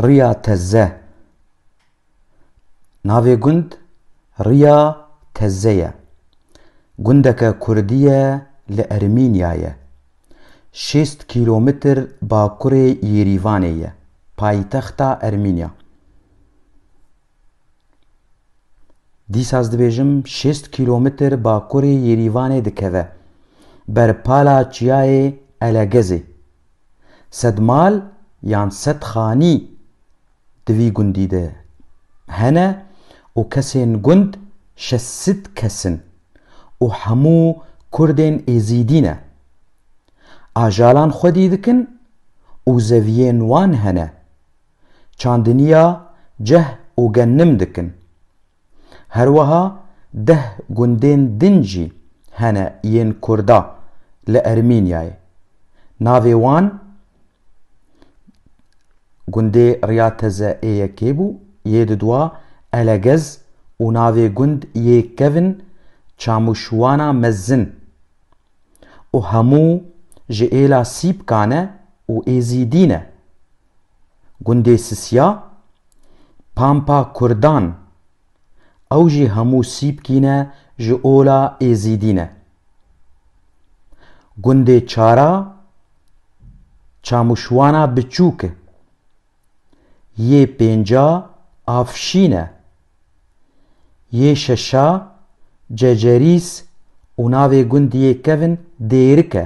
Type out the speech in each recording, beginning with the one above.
Riya Teze Navê gund Riya Teze ye. Gundeke Kurdî ye li Ermînyayê. Şêst kîlometr bakurê Yêrîvanê ye, paytexta Ermînya. Dîsa ez dibêjim şêst kîlometr bakurê Yêrîvanê dikeve, ber pala çiyayê Elegezê. Sed mal yan sed xanî di vî gundî de hene û kesên gund şeş sîd kes in û hemû kurdên êzîdî ne. Ajalan xwedî dikin û zeviyên wan hene. çandiniya ceh û genim dikin. Herweha deh gundên din jî hene yên kurda li Ermînyayê. Navê wan gundê Riya Teze ê yekê bû, yê didwa Elegez û navê gund yê kevn Çamûşwana Mezin û hemû ji êla Sîpkan e û Êzîdî ne. Gundê Sisya, Pampa Kurdan, ew jî hemû Sîpkî ne ji ola Êzîdî ne. Gundê Çara, Çamûşwana Biçûk e. Yê pênca Afşîn e. Yê şeşa Cecerîs û navê gundiyê kevn Dêrik e.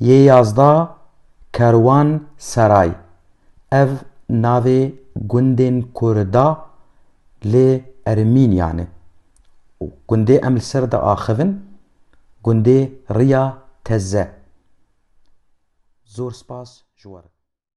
Yê yazda Kerwan Seray, ev navê gundên ku re da li Ermînyan e. Gundê em li ser diaxivin gundê Riya Teze. Zor spas ji we re.